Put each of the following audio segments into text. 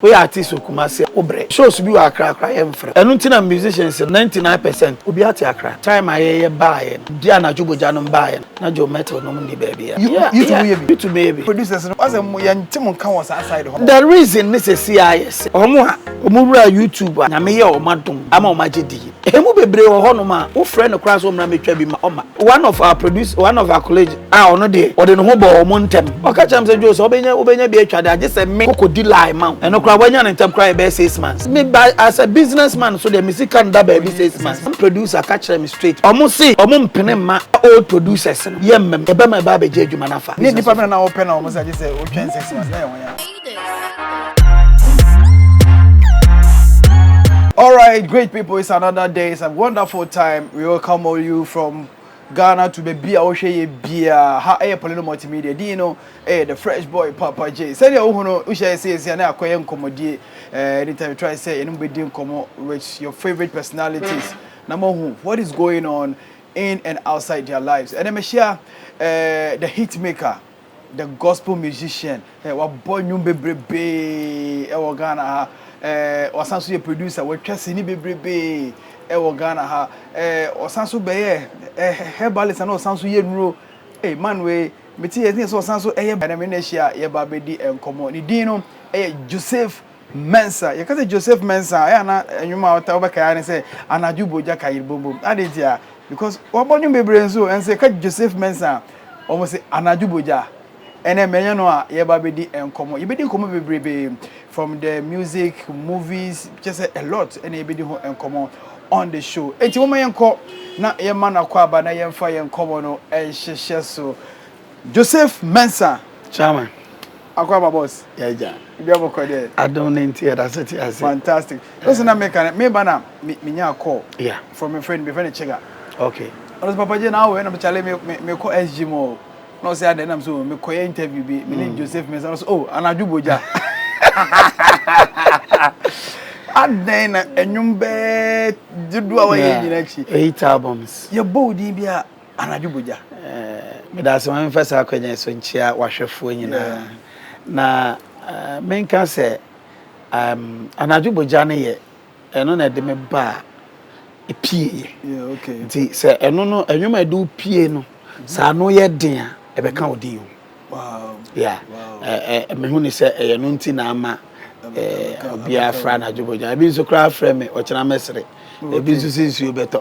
Wo yɛ artist wɔ Kumasi a wo brɛ. Shows bi wɔ Accra koraa yɛ nfrɛ. Ɛno nti na musicians no ninety nine percent obiara te Accra. Time a yɛ yɛ baayɛ no de anadwo bogya nom baayɛ no na Joe Mettle nom nni baabiara. Yutube mo yɛ bi. Yutube mo yɛ bi. Producers no ɔsɛ mo yɛn nte mo nka wɔ saa side hɔ. The reason ne sɛsi ayɛ sɛ wɔn a wɔn wuraa Yutube a Nyame yɛɛ wɔn adom ama wɔn agye diiɛ. Emu bebree wɔ hɔnom a wofrɛ no koraa sɛ ɔmmra mmɛtwa bi ma ɔma. One of our producer, one of our colleagues a ɔno deɛ ɔde ne ho bɔɔ wɔn ntɛm. Ɔka kyerɛɛ me sɛ, Joe, sɛ wobɛnya wobɛnya bi atwa de a, gye sɛ me kɔkɔdi line ma wo. Ɛno koraa wanya no ntɛm koraa yɛ bɛyɛ six months. Me ba as a business man nso deɛ me sika nda baabi six months. One producer ka kyerɛɛ me straight, wɔn se wɔn mpene mma old producers no yɛmma mu. Yɛbɛma ɛba abɛgye adwuma no afa. Ne nnipa bɛn na wopɛ na wɔn se agye sɛ wotwɛn six months na ɛyɛ wɔn ya? All right, great people, it's another day. It's a wonderful time. We welcome all you from Ghana to baby a wohwɛ yɛ bia ha ɛyɛ Polino Multimedia din no ɛyɛ the fresh boy Papa J sɛdeɛ wohu no wohyɛ ɛsɛ ɛsɛ ne akɔyɛ nkɔmmɔdie ɛɛ anytime try sɛ yɛne bɛdi nkɔmmɔ with your favorite personalities na mohu what is going on in and outside their lives ɛnɛ mehyia ɛɛ the hit maker The gospel musician, eh, wabɔ nnwom bebrebee eh, wɔ Ghana ha. Eh, wasan so yɛ producer, watwa sini bebrebee eh, wɔ Ghana ha. Eh, ɔsan so bɛyɛ eh, herbalist na ɔsan so yɛ nnuro. Eh, man wei, mete yɛ sɛ ɔsan so ɛyɛ bɛnɛ me na ahyia yɛba bɛdi nkɔmmɔ. Ne din no ɛyɛ Joseph Mensah, Yɛka sɛ Joseph Mensah a, ɛyɛ a na nnwom a ɔtaa ɔbɛkae ara ne sɛ Anadwo Bogya Ka Yere Bom Bom. Adɛn ntia? Because wabɔ nnwom bebree nso o, nso yɛka Joseph Mensah a, wɔn se Anadwo Bogya. Ɛnɛ mɛnyɛ no a yɛba abɛdi nkɔmmɔ. Yɛbɛdi nkɔmmɔ bebrebe from the music, movies, kyɛ sɛ a lot ɛna yɛbɛdi ho nkɔmmɔ on the show. Enti moma yɛnkɔ na yɛma no akwaaba na yɛmfa yɛn nkɔmmɔ no nhyehyɛ so. Joseph Mensah. Chama. Akɔ aba boss. Yɛ gya. Ibi abɔ kɔ dɛ. Adom ne nti yɛda so te ase. Fantastic. Listen na meka ne meba na menya call. Yeah. From a friend, me friend Chega. Okay. Ɔno sɛ Papa J na awɔ na mekyale me me kɔ SG mu o. Na ɔsɛ adɛ na me so me kɔ yɛ interview bi. Me ne mm. Joseph Mensah. Ɔno sɛ oh anadwo bogya. adɛn na ɛnwom bɛɛ dodoɔ a wɔyɛ nyina akyi eight albums yɛbɔ wo din bi a Anadwo bogya. Meda ase ma memfa saa akwanya yi so nkyea w'ahwɛfoɔ nyinaa na menka sɛ anadwo bogya no yɛ ɛno na ɛde me ba a ɛpieeɛ nti sɛ ɛno no ɛnwom a ɛde wo pie no saa no yɛ den a ɛbɛka wo din o yeah mehu ne sɛ ɛyɛ no nti na ama obiara fra anadwo bogya ebi nso koraa frɛ me ɔkyena mɛsere ebi nso sɛ nsuo bɛtɔ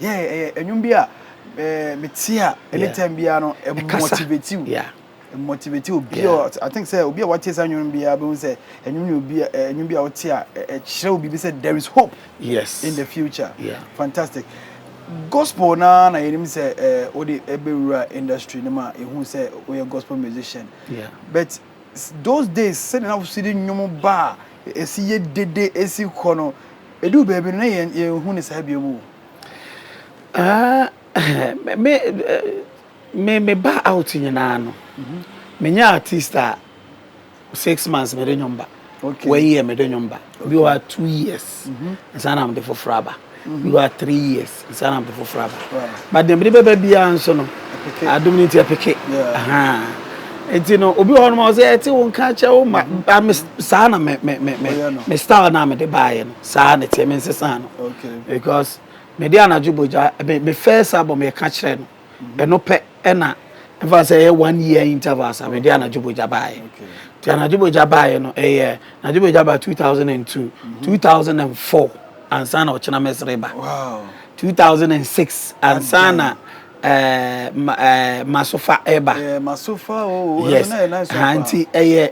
Yeah, ɛyɛ eh, ɛnwom bi a eh, me ti a anytime biara no eh, motivate you. Yeah. Eh, motivate you. Obi yeah. I think say obi a what is ɛnwom biara bɛ say ɛnwom ni obi ɛnwom bi a ɔte a ɛkyerɛ obi bi say there is hope. Yes. In the future. Yeah. Fantastic. Gospel na na yɛnim sɛ eh, wode ɛbɛwura industry no ma ɛhu sɛ woyɛ gospel musician. Yeah. But Those days sɛdeɛ na wosi de nnwom ba a ɛsi yɛ dede ɛsi kɔ no ɛduu baabi no na yɛn yɛnhu ne saa bio mu o. Ah me me me ba out nyinaa no me nyɛ artist a six months me de nnwom ba okay. one year me de nnwom ba. Ebi wɔ hɔ a two years nsa na wɔde foforɔ aba. Ebi wɔ hɔ a three years nsa na wɔde foforɔ aba. But deɛ mede bɛba biara nso no, adum no nti ɛpeke. Nti no obi wɔ hɔ nom a ɔsɛ ɛte wo nka kyɛ wo ma ba me saa na me me me me me style na mede baayɛ no saa na ɛteɛ me nsesa no because mede anadwo bogya me first album yɛka kyerɛ no. Ɛno pɛ na ɛfa sɛ ɛyɛ one year intervals a mede anadwo bogya baeɛ nti anadwo bogya baeɛ no ɛyɛ anadwo bogya ba 2002 2004 ansa na ɔkyena mɛsere ba 2006 ansa na eh, ma, eh, masofa ɛba eh, masofa oh, yes ha nti ɛyɛ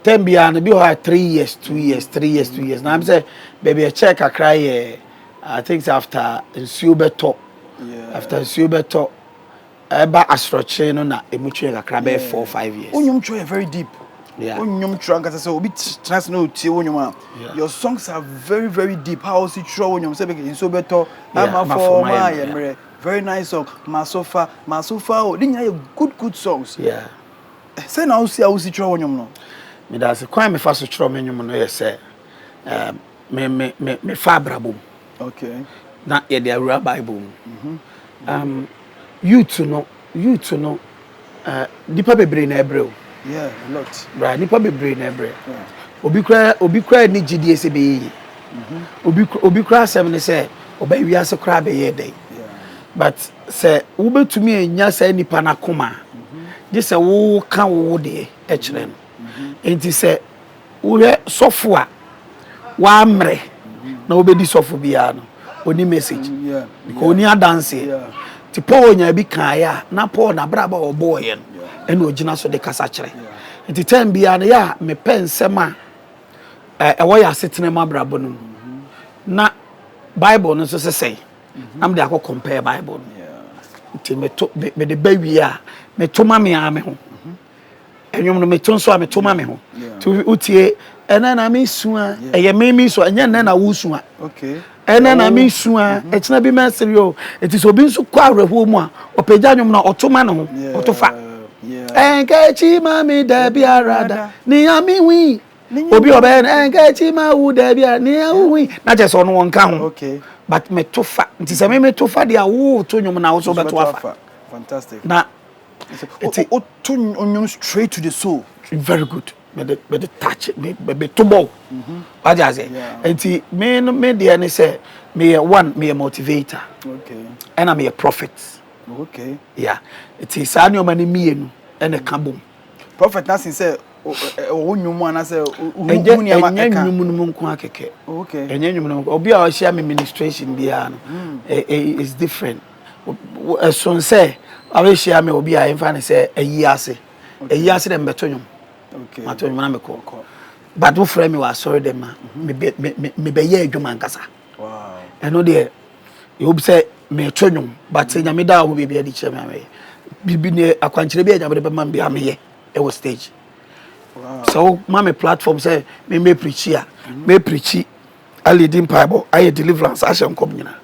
tɛm biara no bi hɔ a three years two years three years two years na sɛ baabi ɛkyɛ kakra yɛ i think after nsuo bɛtɔ After nsuo bɛtɔ ɛba asorɔkye no na emu twerɛ kakra bɛyɛ four five years. Wo nnwom twerɛ yɛ very deep. Yeah. Wo nnwom twerɛ ankasa sɛ obi tena ase na otie wo nnwom a. Your songs are very very deep. How osi twerɛ wo nnwom sɛ bɛkɛ nsuo bɛtɔ ama fɔ ma ayɛ mmerɛ. Very nice song. Masofa masofa o ne nyinaa yɛ good good songs. Yeah. Sɛ na osi a osi twerɛ wo nnwom no. Meda ase kwan a mefa so twerɛ me nnwom no yɛ sɛ ɛɛ me me me mefa abrabɔ mu. na yɛde awura Bible mu. Um, youth no, youth no, uh, nipa bebree na ɛbrɛ o. Yeah, a lot. Right, nipa bebree na ɛbrɛ. Obi kura obi kura ni gyidie sɛ bɛyɛ yi. Mm-hmm. Obi obi kura asɛm ne sɛ ɔbɛn wiase kura bɛyɛ dɛ. But sɛ wobɛtumi anya saa nipa n'akoma, mm-hmm. gye sɛ woka wo deɛ ɛkyerɛ no. Mm-hmm. Nti sɛ Wohwɛ sɔfo a wammrɛ na obedi sɔfo biara no, onni message because onni adanse. Nti Paul nyaa bi kaeɛ a, na Paul n'abrabɔ a ɔbɔeɛ no ɛna ogyina so de kasa kyerɛ. Nti time biara no yɛ a mepɛ nsɛm a ɛwɔ yɛn asetena mu abrabɔ no mu na Bible no nso sesɛn na mede akɔ compare Bible no. Nti meto mede ba wie a meto ma me ara me ho. ɛnwom no meto nso a meto ma me ho to wotie ɛnɛ na mesua ɛyɛ me mesua ɛnyɛ ɛnɛ na wosua ɛnɛ na mesua mm-hmm. ɛkyena bi mɛsere o ɛti sɛ obi nso kɔ awerɛhoɔ mu a ɔpɛgya nwom no ɔto ma ne ho ɔto fa ɛnkɛkyi ma me da biara da nea mehui obi ɔbɛyɛ no ɛnkɛkyi ma wo da biara nea wohui na kyɛ sɛ ɔno wɔnka ho but meto fa nti sɛ me meto fa deɛ a woto nwom na wo so wobɛto afa na Nti o to nnwom straight to the soul. Very good. Me de me de touch me me to bɔ. Mhm. Wagye ase. Nti me no me deɛ ne sɛ me yɛ one me yɛ motivator. Okay. Ɛna me yɛ prophet. Okay. Yeah. Nti saa nneɛma no mmienu ɛna ɛka bom. Prophet na sin sɛ ɔwɔ nnwom mu anaasɛ hu nneɛma ɛka. Ɛnyɛ nnwom no mu nko akɛkɛ. Okay. Ɛnyɛ nnwom no mu. Obi a ɔhyia me ministration biara no, mm. eh, eh, it's different. Ɛsono sɛ wobɛhyia me wɔ bi a yɛmfa no sɛ ayi ase. Ayi ase dɛ mebɛto nnwom. Mato nnwom na mekɔ. But wofrɛ me wɔ asɔre dɛm a, mebɛyɛ adwuma ankasa. Ɛno deɛ, ɛwom sɛ meto nnwom but sɛ Nyame daa hɔ baabi adi kyerɛ me a, mɛyɛ. Biribi ne akwankyerɛ bi a Nyame de bɛma me biara meyɛ wɔ stage. Sɛ woma me platform sɛ memmɛprikyi a, mɛprikyi Alidi mpaebɔ, ayɛ deliverance, ahyɛ nkɔm nyina.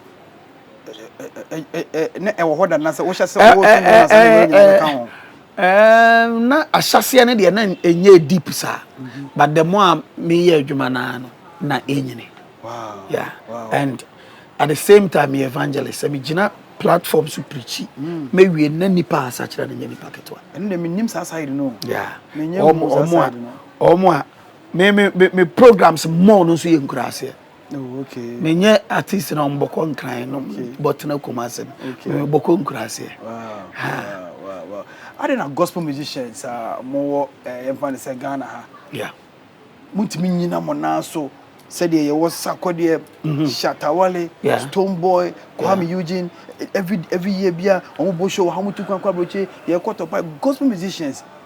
Na ɛwɔ hɔ da na sɛ wohyɛ sɛ wɔ sɛ na sɛ wɔ nyina ka ho. Um, na ahyɛseɛ no deɛ na ɛnyɛ deep saa mhm. but the more a meyɛ adwuma no ara no na ɛnyini yeah and at the same time yɛ evangelist sɛ megyina platform so preachi mm. mɛwie na nipa asakyerɛ no nyɛ nipa ketewa ɛno deɛ menim saa side no yeah ɔmo a me me me me programs mɔɔ no nso yɛ nkuraseɛ oh, okay. menyɛ artist na ɔmbɔkɔ nkran no okay. bɔtena kuma ase no okay. mebɔkɔ nkuraseɛ ade na gospel musicians a mowɔ eh, yɛmfa no sɛ ghana ha yeah. montumi nyina mo naa so sɛdeɛ yɛwɔ sakɔdeɛ mhm. shatawale yeah. stone boy kwame yeah. eugene every, every year bia ɔmobɔ show ha motu kwankwa abrɔkye yɛkɔtɔpa gospel musicians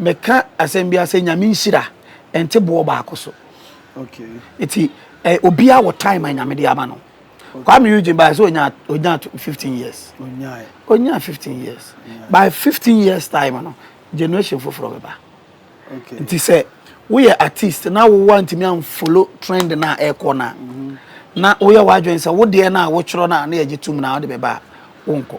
Meka asɛm bi asɛ nyame nhyira ɛnte boɔ baako so nti eh, obiara wɔ time a nyame de ama no Kwame Eugene by so onya onya 15 years onya 15 years by 15 years time no generation foforɔ bɛba nti sɛ woyɛ artist na wowa ntumi amfolo trend no a ɛkɔ no a na woyɛ w'adwene sɛ wodeɛ no a wotwerɛ no a na yɛgye tom no a wode bɛba a wonkɔ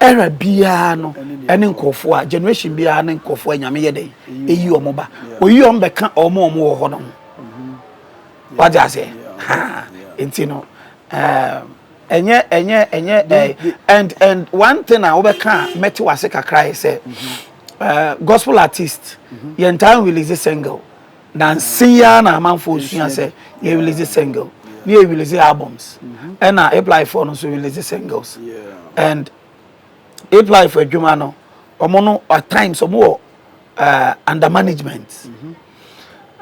Era biara no ne nkurɔfoɔ a generation biara ne nkurɔfoɔ a nyame yɛ dɛn eyi wɔn ba oyi wɔn bɛka wɔn a wɔn wɔ hɔ no ho mm-hmm. wagye aseɛ ha nti no ɛɛ ɛnyɛ ɛnyɛ ɛnyɛ ɛɛ and and one thing a wobɛka a mɛte wase kakra yɛ sɛ ɛɛ mm-hmm. eh, gospel artist mm-hmm. yɛn taa release single. Nanse yi ara na amanfoɔ resua sɛ yɛ release single ne yɛ release albums ɛna Hiplife foɔ no nso release singles and Hiplife adwuma no wɔn no at times wɔn wɔ uh, under management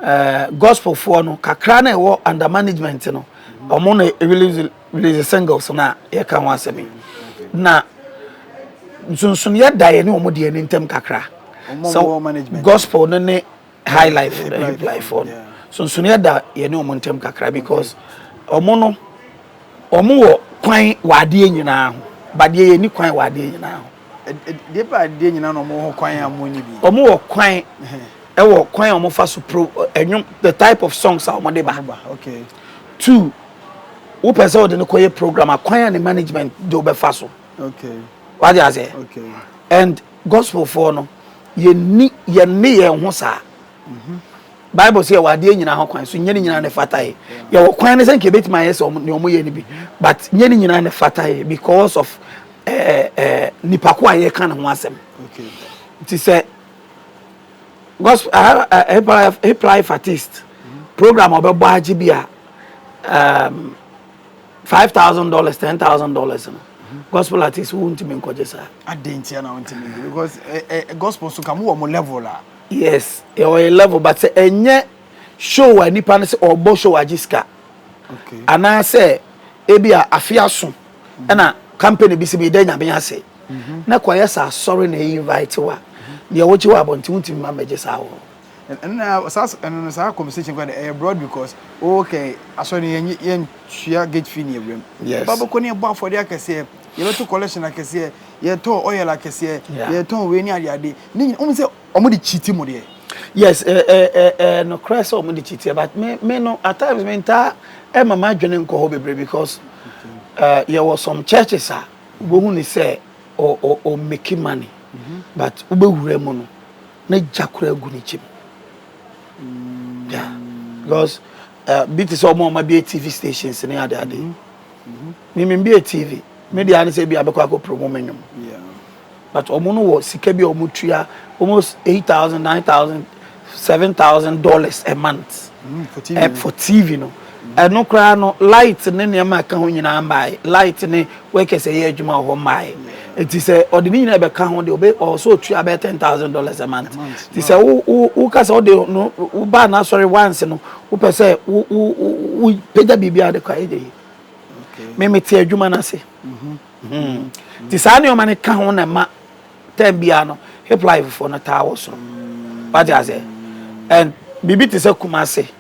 uh, gospel foɔ no kakra na ɛwɔ under management no wɔn na release release singles na yɛka ho asɛm yi na nsonsonoeɛ da yɛ ne wɔn deɛ ne ntɛm kakra sɛ gospel no ne High life eh, hip life fɔ no sonsonneɛ da yɛne wɔn ntɛm kakra because wɔn no wɔn wɔ kwan wɔ adeɛ nyinaa ho badeɛ yɛ ni kwan wɔ adeɛ nyinaa ho. deɛ pɛ adeɛ nyinaa na wɔn wɔ kwan a wɔn ni bi. wɔn wɔ kwan ɛwɔ kwan a wɔn fa so pro ɛnwom the type of songs a wɔn de ba. okay. two wopɛ sɛ wɔde no kɔ yɛ program a kwan a ne management de wɔbɛfa so. okay. wade ase. okay. and Gospel foɔ no yɛnni yɛnne yɛn ho saa Bible sɛ yɛwɔ adeɛ nyinaa ho kwan so nyɛ ne nyinaa ne fata yɛ yɛwɔ kwan no sɛ nka yɛbɛtumi ayɛ sɛ ne ɔmo yɛ no bi but nyɛ ne nyinaa ne fata yɛ because of eh, eh, nipa ko a yɛka ne ho asɛm nti sɛ gospel uh, uh, hip life hip life artist program ɔbɛbɔ agye bi a um, five thousand dollars ten thousand dollars no gospel artist wo ntumi nkɔgye saa. adan ntia na ntumi nkɔgye because ɛ eh, ɛ eh, gospel so ka mo wɔ mo level la. yes ɛwɔ yɛ level but sɛ ɛnyɛ show a nipa no sɛ ɔbɔ show agye sika anaasɛ ebi a afe aso mhm. ɛna company bi si bi dɛ nyame ase mhm. na kɔyɛ sɛ asɔre na ɛyi invite wa deɛ wogye wɔ abɔnten wontumi ma mmɛgye saa wɔ. Ɛno na saa ɛno no saa conversation kora de ɛyɛ broad because oh kɛ asɔre no yɛn yɛn tua gate fee ne awuram. Yes. Ba bɛkɔ ne yɛbɔ afɔde akɛseɛ yɛbɛto collection akɛseɛ yɛtɔ oil akɛseɛ yeah. yɛtɔn wei ne ade ade ne nyina wɔn sɛ wɔn de kyiti mu deɛ. Yes ɛɛ eh, ɛɛ eh, eh, no kora sɛ wɔn de kyiti but me me no at times me ntaa ɛma ma adwene nkɔ hɔ bebree because ɛɛ yɛwɔ some churches a wɔhu ne sɛ o o o make money mm-hmm. but wobɛwura mu no. Ne gya koraa gu ne kyim. Yeah. Because uh, bi te sɛ ɔmo ɔmo abie TV stations ne ade ade. Mimi mm-hmm. mbie TV. Me deɛ ano sɛ bi abɛkɔ akɔ promo me nwom. But ɔmo no wɔ sika bi a ɔmo tua almost eight thousand, nine thousand, seven thousand dollars a month. Mm, for TV. Uh, eh, for TV no. Ɛno koraa no, light ne nneɛma a ɛka ho nyinaa mmaeɛ. Light ne workers a ɛyɛ adwuma wɔ hɔ mmaeɛ. Nti sɛ ɔde ne nyinaa bɛka ho deɛ, ɔbɛ, ɔwɔ sɛ ɔtua bɛyɛ ten thousand dollars a month. Nti sɛ wo, wo, woka sɛ wode no, wobaa n'asɔre once no, wopɛ sɛ wo, wo, wo, wopagya biribi a wode kɔ a, ɛnyɛ yie. Me, mete adwuma no ase. Hmm. Nti saa nneɛma no ka ho na ɛma time biara no, hiplife foɔ no taa wɔ soro. Wate aseɛ? And biribi te sɛ Kumasi.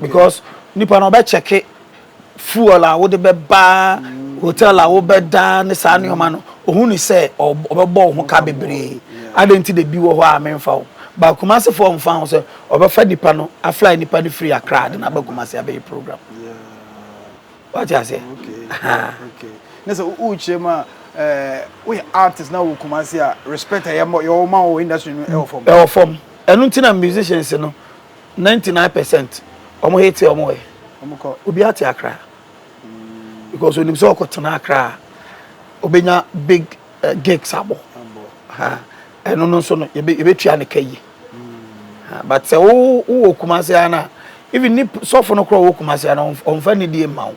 Because nipa no ɔbɛ kyɛke fuel a wode bɛba hotel a wobɛda ne saa nneɛma no ohu ne sɛ ɔbɛbɔ wo ho ka bebree adɛn nti de bi wɔ hɔ a memfa wo ba Kumasi foɔ mfa ho sɛ ɔbɛfa nipa no afly nipa no firi Accra de no aba Kumasi abɛyɛ program wate aseɛ okay ne sɛ wokyerɛ mu a woyɛ artist na wɔ Kumasi a respect a yɛwɔ ma wɔ industry no ɛwɔ fam ɛwɔ fam ɛno nti na musicians no Ninety nine percent ɔmo hate ɔmo ɛ ɔmo kɔ obiara te akra because onim sɛ ɔkɔ tena akra obenya big eh, gigs abɔ ha ɛno no nso no yɛbɛtua ne ka yi but sɛ wowɔ kumase a na even ne sɔfo no korɔ wɔ kumase a na ɔmfa ne die mma wo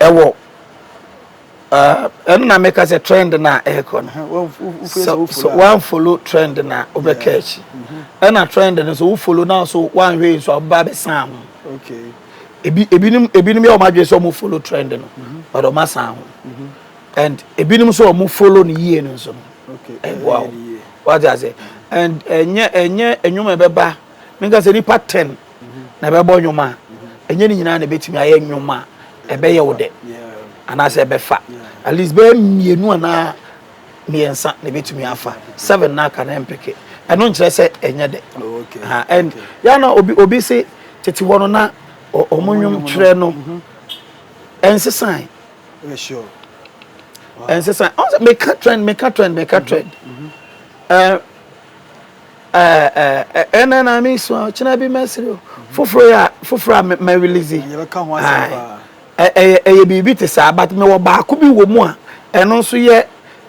ɛwɔ ɛno na meka sɛ trend no a ɛrekɔ no sɛ woanfolo trend no a wobɛka akyi mm-hmm. ɛna trend no so wofolo no so woanhwɛ nso a wobɛba bɛsan ho ebinom ebinom yɛ wɔn adwene sɛ wɔn folo trend no mm-hmm. but wɔn asan ho mm-hmm. and ebinom nso wɔn folo no yie no nso no ɛboa wɔn wagye ase and ɛnyɛ ɛnyɛ ɛnwom ɛbɛba meka sɛ nipa ten na ɛbɛbɔ nnwom a, ɛnyɛ ne nyinaa na ɛbɛtumi ayɛ nnwom a ɛbɛyɛ wo dɛ anaasɛ ɛbɛfa. At least bɛyɛ mmienu anaa mmiɛnsa na ɛbɛtumi afa. Seven na aka no ɛmpeke. Ɛno nkyerɛ sɛ ɛnyɛ dɛ. Ha, and yɛ na obi obi se tete hɔ no na wɔn nnwom twerɛ no ɛnsesan. Ɛnsesan. Ɔn sɛ meka trend, meka trend, meka trend. Ɛɛ. ɛnɛ na mi sua ɔkyena bi mɛsiri o foforɔ yɛ a foforɔ a mɛ release ɛyɛ ɛyɛ biribi te saa but mɛ wɔ baako bi wɔ mu a ɛno nso yɛ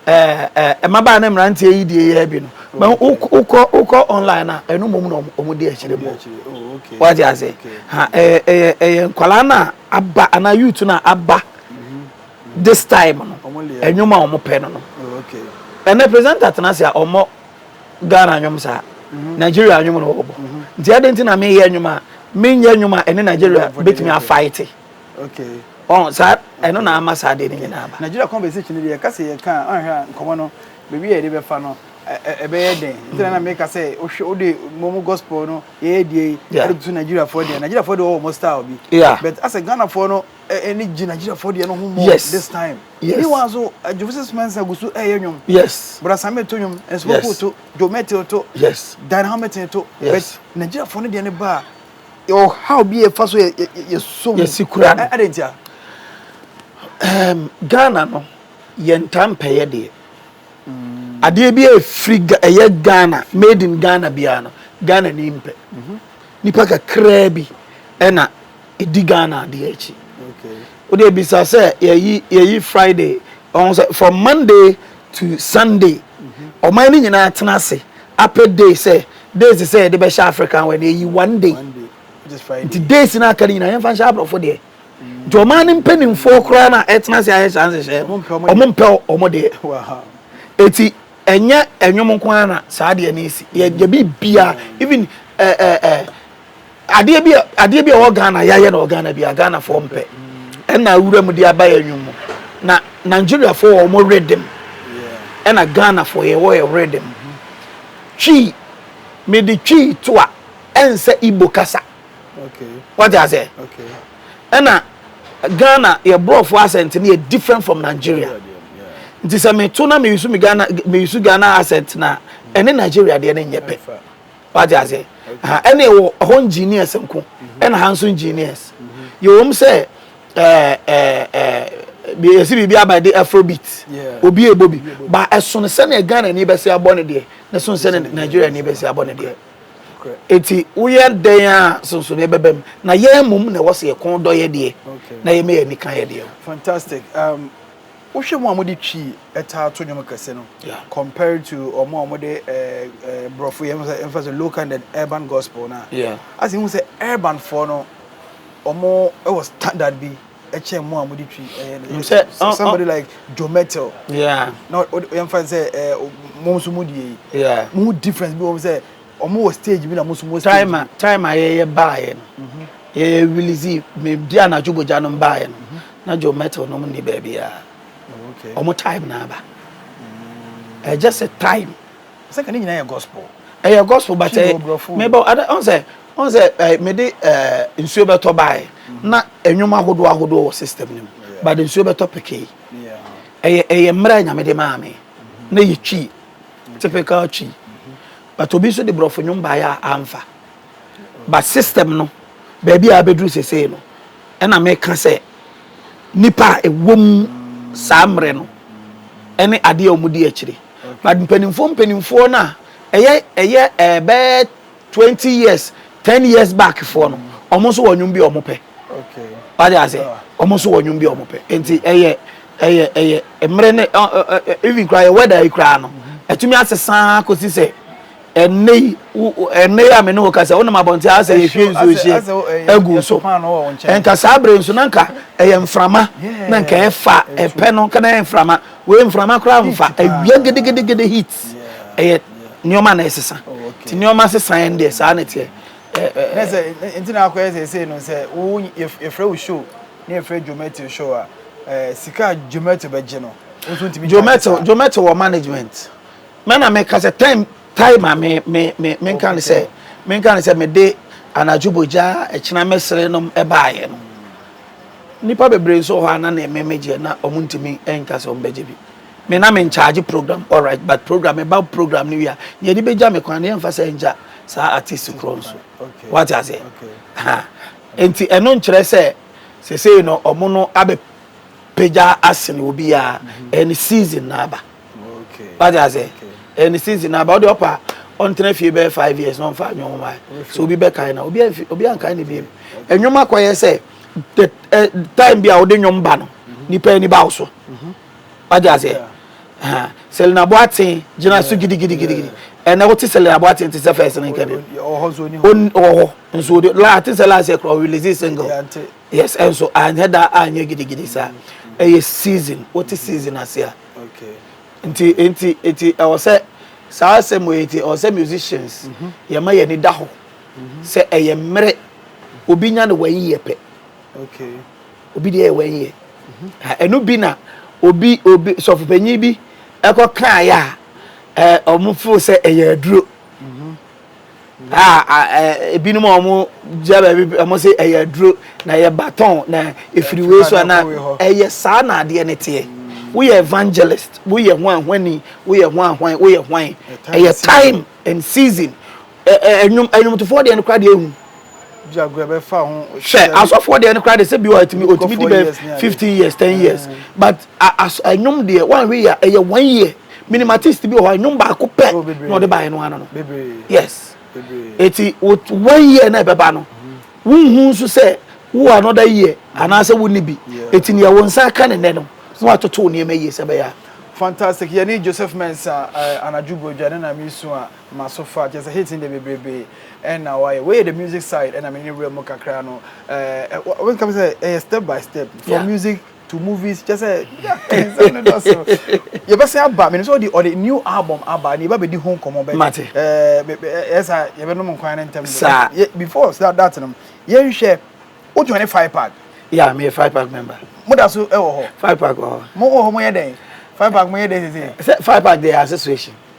ɛɛ mmabaa ne mmeranteɛ yi deɛ yɛ bi no mɛ wokɔ wokɔ online a ɛno mom na wɔn di akyire mu wɔde ase ha ɛyɛ ɛyɛ ɛyɛ nkwadaa na aba anaa youth na aba. This time no, ɛnwom a wɔn pɛ no no. Ɛnɛ presenter tena ase a ɔmmɔ Ghana nwom saa. Mhm. Nigeria nwom na ɔbɔ. Mhm. Nti ɛde nti na meyɛ nwom a menyɛ nwom a ɛne Nigeria betumi afaete. Ɔn saa ɛno na ama saa de ne nyinaa ba. Nigeria conversation deɛ ɛka sɛ yɛka a ɔnhwɛ a nkɔmɔ no baabi a yɛde bɛfa no ɛbɛyɛ dɛn nti na meka sɛ wohwɛ wode mom gospel no yɛyɛ die ɛde to nigeriafoɔ deɛ nigeriafoɔ deɛ wɔwɔ mo style bi but asɛ ghanafoɔ no ɛne gyinagyinafoɔ deɛ no ho mmɔ yes this time yes ne wa so adwofo sɛ suma nsa gu so ɛyɛ nnwom yes brasame to nnwom nsopofo yes. to jomete to yes dan hamilton to yes. but nigeriafoɔ no deɛ no ba a ɔhaw bi ɛfa so yɛsom yɛsi kura no ɛde ntia um, ghana no yɛntaa mpɛyɛ deɛ mm. adeɛ bi a ɛfiri ɛyɛ ghana made in ghana biara no ghana ni mpɛ mm -hmm. nipa kakraa bi ɛna Ɛdi Ghana adeɛ akyi. Wodeɛ bisa sɛ yɛyi yɛyi Friday ɔho sɛ from Monday to Sunday ɔman no nyinaa tena ase apɛ day sɛ days sɛ yɛde bɛhyɛ African wɛ no yɛyi one day nti days no aka no nyinaa yɛmfa nhyɛ aborɔfo deɛ nti ɔman no mpanimfoɔ koraa no a ɛtena ase ayɛ saa nhyehyɛ ɔmo mpɛ ɔmo deɛ ɛti ɛnyɛ ɛnwom nko ara na saa deɛ no ɛsi yɛde biribiara even ɛɛ ɛɛ adeɛ bi adeɛ bi a ɔwɔ ghana yɛayɛ na ɔwɔ ghana bi a ghanafoɔ mpɛ ɛna awura mu de aba yɛ nwom mu na nigeriafoɔ wɔ wɔn rhythm ɛna ghanafoɔ yɛ wɔ yɛ rhythm twi mede twi to a ɛnsɛ igbo kasa wagye aseɛ ɛna ghana yɛ borɔfoɔ asɛnte no yɛ different from nigeria nti sɛ meto na meyusu me ghana meyusu ghana asɛnte na ɛne nigeria deɛ ne nyɛ pɛ wagye ase ɛne wɔ ɛhɔ engineers nko ɛna ha nso engineers yɛwɔ mu sɛ ɛɛ ɛɛ yɛsi biribi aba de afrobeat obi ebo bi ba ɛsono sɛnea ghana ni bɛsi abɔ ne deɛ na ɛsono sɛnea nigeria ni bɛsi abɔ ne deɛ eti woyɛ dɛn a sonson ne bɛbɛm na yɛn mum na ɛwɔ sɛ yɛ kɔn dɔ yɛ deɛ na yɛ mɛ yɛ nika yɛ deɛ. fantastic. Um, Wohwɛ mo a mode Twi taa to nnwom kɛse no compared to ɔmo a wɔde borɔfo yɛ mfa sɛ local and urban gospel no a, asɛ hu sɛ urban foɔ no ɔmo wɔ standard bi ɛkyɛn mo a mode Twi ɛyɛ no. Sɛ somebody like Joe Mettle na yɛmfa sɛ mo nso mo die yi, mo difference bi wɔ mu sɛ Ɔmo wɔ stage bi na mo nso mo wɔ stage bi. Time time a yɛyɛ baayɛ no yɛyɛ release me di anadwo bogya nom baayɛ no na Joe Mettle nom ni baabiara ɔmo time na aba ɛyɛ just a time. Sɛ ka ne nyinaa yɛ gospel. Ɛyɛ gospel but ɛ mebɔ ada ɔn sɛ ɔn sɛ ɛ mede ɛ nsuo bɛtɔ baayɛ na ɛnwom ahodoɔ ahodoɔ wɔ system no mu but nsuo bɛtɔ pekee ɛyɛ ɛyɛ mmerɛ nyame de maa me na yɛ twi Typical Twi. But obi nso de borɔfo nnwom baeɛ a amfa. But system no, baabi a abɛduru sesei no, ɛna meka sɛ nipa a ɛwɔ mu saa mmerɛ no ɛne adeɛ a wɔdi akyire. But mpanimfoɔ mpanimfoɔ no a ɛyɛ ɛyɛ ɛbɛɛ Twenty years ten years back foɔ no wɔn nso wɔ nnwom bi a wɔn pɛ wade ase wɔn nso wɔ nnwom bi a wɔn pɛ nti ɛyɛ ɛyɛ ɛyɛ mmerɛ ne ɛ ɛ ɛ even koraa yɛ wɛda yi koraa no ɛtumi asesaa kɔsi sɛ ɛnne yi ɛnne yi a me ne wo kasa wonam abɔnten asɛ yɛhwie nsuo hyɛ agu so nka saa bere nso na nka ɛyɛ mframa na nka ɛfa ɛpɛ no nka na ɛyɛ mframa wei mframa koraa mfa awia gedegedigede heat ɛyɛ nneɛma na ɛsesa nti nneɛma sesa yɛn deɛ saa na ɛteɛ. ne sɛ nti na akɔyɛ sɛ ɛsei no sɛ wo yɛfrɛ wo show ne yɛfrɛ Jometio show a sika Jometio bɛgye no nso ntumi Jometio Jometio wɔ management mɛna meka sɛ time tae ma me me me menka ne sɛ menka ne sɛ mede anadwo bogya ɛkyena mɛsere nom ɛbaayɛ no nipa bebree nso hɔ a na ne mmɛmɛgyeɛ na ɔmo ntumi ɛnka sɛ ɔmo bɛgye bi Me na me nkyagye program alright but program me ba program no wie a nea ɛde bɛgya me kwan no yɛmfa sɛ ngya saa artist korɔ nso wate aseɛ ha nti ɛno nkyerɛ sɛ sesei no ɔmo no abɛ pagya asene obi a ɛne mm-hmm. season na aba wate aseɛ ɛne season na aba ɔde ɔpa ɔntena fie bɛyɛ five years na ɔmfa anwom wae so obi bɛkae na obi anfi obi ankae ne biem ɛnwom akɔyɛ sɛ the eh, time bi a wode nwom ba no mm-hmm. nipa ani ba wo so mm-hmm. Wate aseɛ? Ahaa. Selina Boateng gyina so gidigidigidi. Ɛnnɛ wote Selina Boateng te sɛ first no nka bio. Ɔwɔ hɔ nso ɔni hɔ. Ɔn, ɔwɔ hɔ nso ɔni hɔ. La, te sɛ last year koraa ɔrelease single. Yɛ ante. Yes, ɛnso anyɛ da a anyɛ gidigidi saa. Ɛyɛ season, wote season ase a. Okay. Nti, nti, nti ɛwɔ sɛ saa asɛm wei nti ɛwɔ sɛ musicians yɛma yɛn ani da hɔ sɛ ɛyɛ mmerɛ obi nya no wayi yɛ pɛ. obi deɛ yɛ one year ɛno bi na obi obi sɔfopanyin bi ɛkɔ kan yɛ a wɔn fo sɛ ɛyɛ aduro a ebinom a wɔn gyina baabi wɔn sɛ ɛyɛ aduro na ɛyɛ baton na efiri wei so ana ɛyɛ saa na adeɛ ne teɛ woyɛ evangelist woyɛ ho ahwani woyɛ ho ahwan woyɛ hwan ɛyɛ time and season. Ɛnwom ɛnwomtofoɔ deɛ no koraa deɛ ehu. Jaguar bɛ fa ho. Hwɛ asɔfoɔ deɛ no koraa deɛ sɛ bi wɔ ɛtumi ɔtumi di bɛ fifteen years ten years but as ɛnwom deɛ wɔn ahwɛ yɛ ɛyɛ one year minimum artist bi wɔ hɔ ɛnwom baako pɛ na ɔde ba yɛ no ano no yes eti one year na ɛbɛba no wɔn hu nso sɛ wo another year anaasɛ wɔn ni bi eti nea wɔn nsa aka ne nɛ no na wɔatoto nneɛma yie sɛ bɛyɛ a. fantastic yɛne joseph mensa eh, anadwo bɔdwa ne na mesu a Maso fa kyerɛ sɛ hits no deɛ bebrebe ɛna wayɛ wei yɛ the music side ɛna mene ne wura mu kakra no ɛɛ wɔn kama sɛ ɛyɛ step by step from yeah. music to movies kyɛ sɛ ɛnsɛm no dɔ so yɛbɛsɛn aba mene sɛ ɔde ɔde new album aba ne yɛba bɛdi ho nkɔmmɔ bɛ mate ɛɛ ɛyɛ saa yɛbɛnom nkwan ne ntɛm saa before that that no yɛnhwɛ o join five pack yeah me five pack member mo da so ɛwɔ hɔ five pack wɔ hɔ mo wɔ hɔ mo yɛ dɛn five pack mo yɛ dɛn sɛ sɛ five pack de association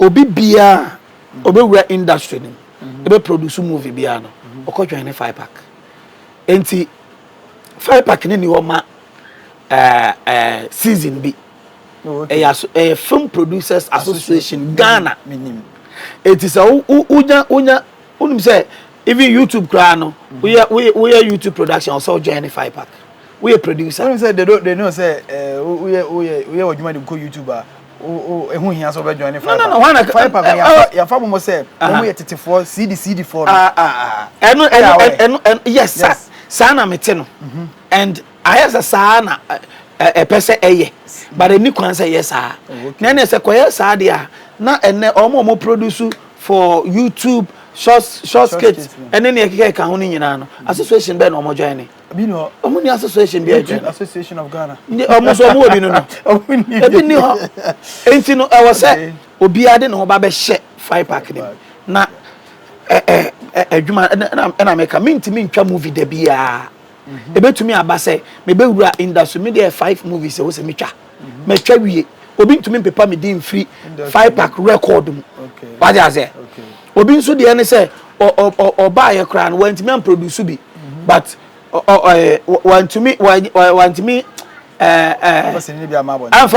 Obi biaa a ɔbɛwura industry no mu na bɛ produce movie biaa no ɔkɔ joine Fipac. Nti Fipac no nni hɔ ma season bi. Ɛyɛ Film Producers Association Ghana. Nti sɛ wonya, wonya, wonim sɛ even YouTube koraa no woyɛ YouTube production a ɔsɛ sɛ wo joine Fipac. Woyɛ producer. Wonim sɛ they know sɛ woyɛ w'adwuma de kɔ YouTube a ɛho hia sɛ wobɛjoin ne firefirepa no yɛfa momɔ sɛ ɔmo yɛ tetefoɔ cd cd foɔ no ɛno yes saa na mete no mhm. and ayɛ sɛ saa na ɛpɛ sɛ ɛyɛ but ɛni kwan sɛ ɛyɛ saa oh, na ɛne sɛ kɔyɛ saa deɛ a na ɛnɛ ɔmo ɔmo produce for youtube short skit ɛne ne ɛkeka ɛka ho no nyinaa no association bɛɛ na ɔmo join ne Ebi ni hɔ. Ɔmo ni association bi a ɛtwɛn. Association of Ghana. Ndi ɔmo nso ɔmo wɔ bi no no. Ɔmo ni bi. Ebi ni hɔ. Enti no ɛwɔ sɛ obiara de ne ho ba bɛhyɛ Fry Park no mu. Na ɛ ɛ ɛ adwuma ɛna ɛna meka mintumi ntwa movie da biara. Ebetumi aba sɛ mebɛwura industry me deɛ five movies ɛwɔ sɛ metwa. matwa wie obi ntumi mpepa me din mfiri five pack record mu wade aseɛ obi nso deɛ ne sɛ ɔbaayɛ koraa no wantumi amproduce bi mhm. but wantumi wantumi amfa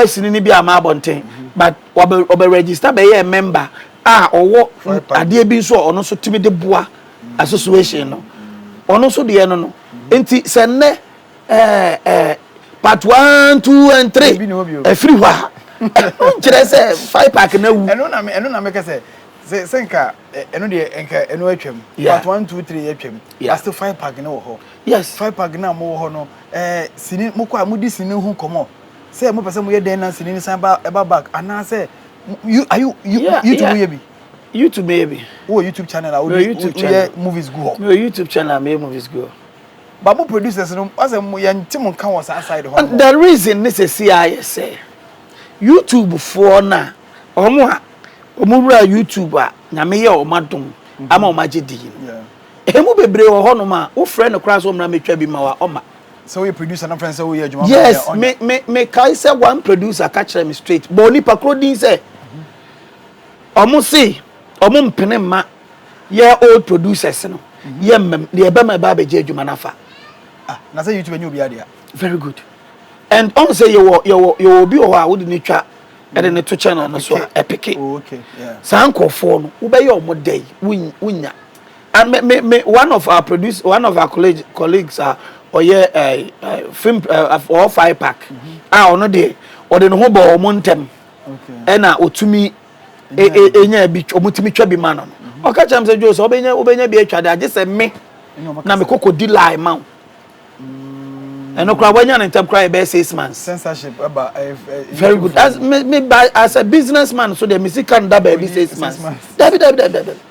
sini no bi ama abɔnten mhm. but ɔbɛ register bɛyɛ member a ɔwɔ adeɛ bi nso a ɔno nso tumi de boa mhm. association no ɔno nso deɛ no no nti sɛ nnɛ Ɛɛ ɛɛ part one two and three Ebi ni hɔ bio. ɛfiri hɔ a ɛno nkyerɛ sɛ five pack na wu. ɛno na me ɛno na meka sɛ sɛ sɛ nka ɛ- ɛno deɛ nka ɛno atwam Yeah. part one two three atwam Yeah. but still five pack no wɔ hɔ Yes. five pack no a mowɔ hɔ no ɛɛ sini mokɔ a modi sini ho nkɔmmɔ sɛ mopɛ sɛ moyɛ dɛn na sini no san ba ɛba back anaasɛ mo- you are you you Yeah, youtube yeah. woyɛ bi YouTube yɛ bi. wowɔ youtube channel a Mewɔ wode YouTube woyɛ channel. movies gu hɔ Mewɔ YouTube channel a meyɛ movies gu hɔ. But mo producers no asɛ yɛnte mo nka wɔ saa side hɔ nom. The reason ne sɛsi ayɛ sɛ YouTube foɔ no a wɔn a wɔn wura YouTube a Nyame yɛ wɔn adom ama wɔn agye din no ɛmu bebree wɔ hɔ nom a wo frɛ no koraa sɛ ɔmmra mɛtwa bi ma wo a ɔma. Sɛ woyɛ producer na wofrɛ no sɛ woyɛ adwuma ma me a ɔnyɛ. Yes me me me kae sɛ one producer ka kyerɛ me straight bɔɔ nipa korɔ din sɛ wɔn se wɔn mpene mma Yɛ old producers no yɛ mmam deɛ ɛbɛma ɛba abɛgye adwuma no afa. Ah na sɛ YouTube ɛnyɛ obiara dea. Very good and ɔn sɛ yɛwɔ yɛwɔ yɛwɔ obi wɔ hɔ a wode no twa ɛde no to channel no so a ɛpeke Oh okay yeah. saa nkorɔfoɔ no wobɛyɛ ɔmo dɛn won wonnya and me me me one of our produce one of our college colleagues a ɔyɛ ɛɛ ɛɛ film ɛɛ af ɔwɔ Fire Park a ɔno deɛ ɔde ne ho bɔɔ ɔmo ntɛm Okay. ɛna ɔtumi ɛnya e, e, bi ɔmotumi twa bi ma no no mhm. ɔka kyerɛ m sɛ dwo sɛ wobɛnya wobɛnya bi atwa de agye sɛ me na mekɔkɔ di lie ma wo mm. ɛno koraa woanya no ntam koraa yɛbɛyɛ six months censorship ɛba eh, eh, very good as me me by as a businessman so deɛ me sika no da baabi six months dabi dabi dabi dabi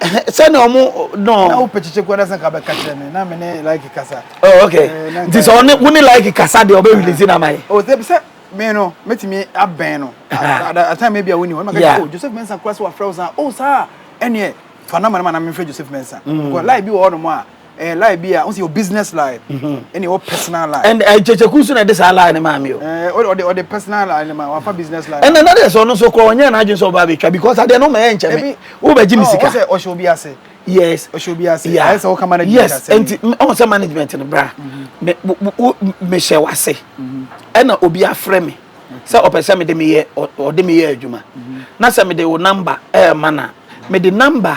sɛnea ɔmo no. na wopɛ kyekye kura sɛ nka bɛka kyerɛ me na me ne like kasa. oh okay eh, nti sɛ ɔne wo ne like kasa deɛ ɔbɛ release na ama yɛ. o sɛ bisɛ me no mɛtumi abɛn no atan mɛ bi a woni hɔ ɛma kɛ o Joseph Mensah kura sɛ wafrɛ wo saa o saa ɛneɛ fa nama no ma na mefrɛ Joseph Mensah mm. because like bi wɔ hɔ nom a ɛyɛ eh, lie bi a ɔsi yɛ business lie mhm. ɛna ɛwɔ personal lie. ɛn ɛn kyekyeku nso na ɛde saa lie ne maa mi o. ɛɛ eh, ɔde ɔde personal lie ne maa wafa business lie. ɛnna nade sɛ ɔno nso kɔ ɔnyɛ n'adwene sɛ ɔba abɛtwa because adeɛ no ma ɛyɛ nkyɛn mi wo bɛ gye mi sika. ɔsɛ ɔhyɛ obi ase. yes ɔhyɛ obi ase ayɛ sɛ ɔka management ase. yes nti ɔn sɛ management no bra mɛ mhm. mɛ hyɛ wase mhm. ɛna obi afrɛ mi sɛ ɔpɛ sɛ mede meyɛ ɔde meyɛ adwuma na sɛ mede wo namba ɛɛma na mede namba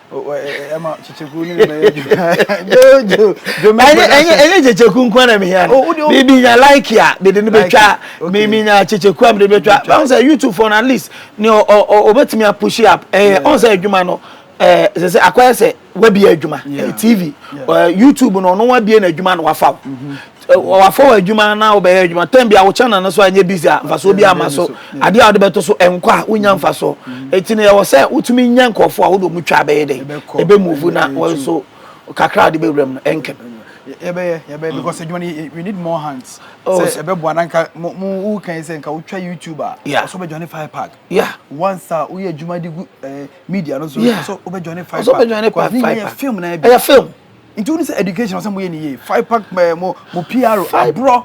ɛma kyekyeku ne bɛyɛ jojo jome production ɛnyɛ kyekyeku nko na mehia no oh, bibi nya like a mede no bɛtwa mimi nya kyekyeku a mede bɛtwa bɛhu sɛ youtube fɔ no at least ne ɔbɛtumi apushi up ɛyɛ ɔn sɛ adwuma no ɛsɛ sɛ akɔyɛ sɛ wabie adwuma tv youtube no ɔno wabie no adwuma na wafa wo Wafɔ w'adwuma na wobɛyɛ adwuma tɛn bia wokyɛ nane so a ɛnyɛ busy a mfasoɔ bi ama so adeɛ a wode bɛto so ɛnkɔ a wonya mfasoɔ ɛti no yɛwɔ sɛ wotumi nya nkurɔfoɔ a wode ɔmu twa bɛyɛ dɛ ɛbɛ move na wɔn nso kakra a wode bɛwura mu no ɛnkɛ yɛbɛyɛ yɛbɛyɛ because adwuma no we need more hands sɛ ɛbɛboa na nka wo kan sɛ nka wotwa youtube a ɔsɛ wobɛjoine five pack once a woyɛ adwuma de gu media no so ɔsɛ wobɛjoine five pack ɛyɛ film nti wone sɛ education sɛ moyɛ ne yie five pack eh, mo mo pr aborɔ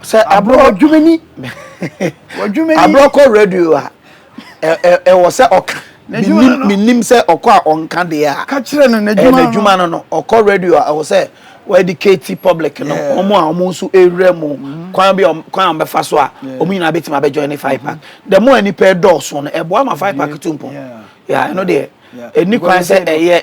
sɛ aborɔ aborɔ wadwumani wadwumani aborɔ kɔ radio a ɛ- ɛ- ɛwɔ sɛ ɔka N'adwuma Menim- no. menim sɛ ɔkɔ a ɔnka deɛ a ka kyerɛ no ɛyɛ n'adwuma no n'adwuma no no ɔkɔ radio a ɛwɔ sɛ wɔadicate public no Yeah. ɔmo a ɔmo nso ɛwura mu kwan bi a ɔm- kwan a ɔmbɛfa so a Yeah. ɔmo nyinaa bɛtumi abɛjoin ne five pack the more a nnipa ɛdɔɔso no ɛboa ma five pack to mpɔ Yeah. Yeah, ɛno deɛ Yeah. ɛni kwan Because sɛ ɛyɛ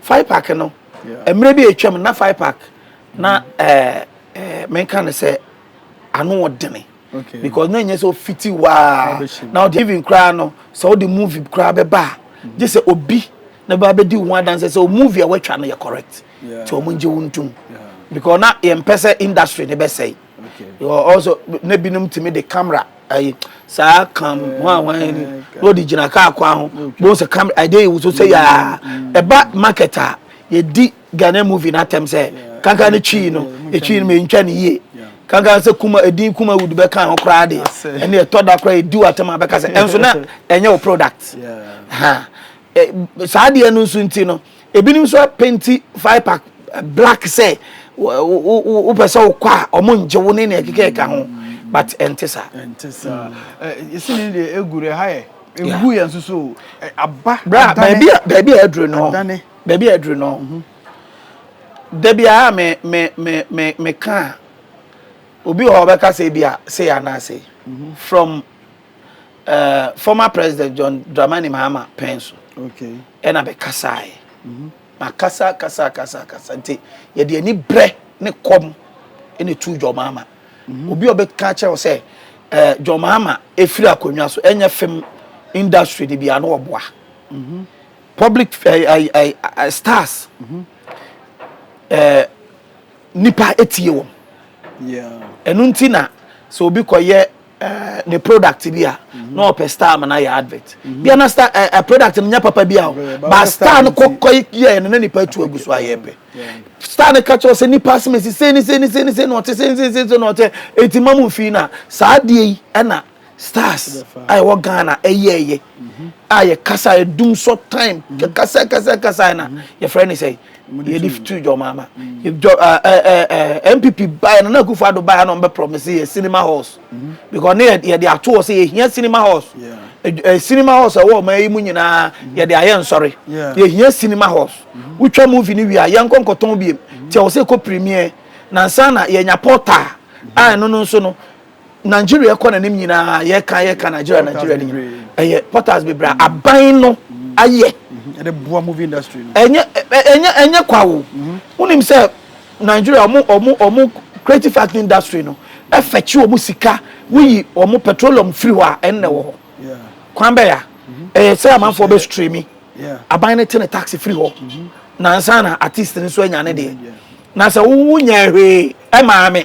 Firepark no, mmerɛ bi a atwam no, na Firepark na menka no sɛ ano ɔdene because na ɛnyɛ sɛ ɔfiti waa na ɔde even koraa no sɛ ɔde movie koraa bɛba a gye sɛ obi na bɛba bɛdi wo ho adanse sɛ movie a wɔatwa no yɛ correct nti wɔn ngye wo ntom because na yɛmpɛ sɛ industry no bɛsɛe ɔsɔ na binom tumi de camera ayi saa kam ho a wɔn ni na ɔde gyina kaa kwan ho bɔn sɛ kam ɛde yi woso sɛ yaa ɛba market a yɛdi ghana movie na atɛm sɛ kankan ne twi no etwi no ma ntwa ne yie kankan sɛ kuma edin kuma wood bɛ kan ho koraa de ɛne ɛtɔ da koraa edi wa tɛm abɛka sɛ ɛnso na ɛnyɛ o product ha. Ɛ saa adeɛ no nso nti no, ebinom nso apenti Viper black sɛ wopɛ sɛ wokɔ a ɔmo ngye wo ne nea ɛkeka ɛka ho but ɛnte saa. ɛnte saa yɛsi ne deɛ egu deɛ ha yɛ egu yɛn nso so aba bra baabi a baabi a aduru no baabi a aduru no mhm. da biara me me me me me ka obi wɔ hɔ ɔbɛka sɛ bi a sei anaasei mhm. from uh, former president john dramani mahama pɛn so okay. ɛna bɛkasaeɛ mm -hmm. na kasa kasa kasa kasa nti yɛde ani berɛ ne kɔm ɛna tu john mahama mm -hmm. obi a ɔbɛka kyerɛ wo sɛ uh, john mahama ɛfiri akonnwa so ɛnyɛ fam industry de bia no ɔboa mm -hmm. public uh, uh, uh, stars mm -hmm. uh, nipa etie wɔn ɛno nti na sɛ obi kɔyɛ Eh, ne product bi a mhm. na ɔpɛ star ma na yɛ advert mhm. bia na star eh, eh, product no nyɛ papa bi a ba star no kɔkɔ yɛ no na nipa tu agu so a yɛ pɛ star no ka kyerɛ sɛ nipa asɛm si sɛ ne sɛ ne sɛ ne sɛ na ɔte sɛ ne sɛ ne sɛ na ɔte eti ma mu fi na saa adeɛ yi ɛna stars a ɛwɔ ghana ɛyɛ ɛyɛ mhm. a yɛ kasa ɛdum so time kasa kasa kasa na yɛfrɛ ne sɛ yɛde tu dwom ama npp baeɛ no na akufo ado baeɛ na ɔmbɛ promise yɛ cinema halls mm-hmm. because ne yɛde ato hɔ sɛ yɛhia cinema halls cinema halls a ɛwɔ ɔman yi mu nyinaa mm-hmm. yɛde ayɛ nsɔre yɛhia cinema halls mm-hmm. wotwa movie no wie a yɛnkɔ nkɔtɔn biem nti ɛwɔ sɛ ɛkɔ premier nansa na yɛnya portal a ɛno no nso no Nigeria ɛkɔ n'anim nyinaa yɛka yɛka Nigeria Nigeria ni ɛyɛ portals bebree a aban no ayɛ ɛde boa movie industry no ɛnyɛ ɛnyɛ ɛnyɛ kwa wo wonim sɛ Nigeria ɔmo ɔmo ɔmo creative arts industry no ɛfɛkye ɔmo sika woyi ɔmo petroleum firi hɔ a ɛnnɛ wɔ hɔ kwan bɛya ɛyɛ sɛ amanfoɔ bɛ streami aban no te ne tax firi hɔ nansa na artist no nso anya ne deɛ na sɛ wowo nyɛ hwee ɛmaa me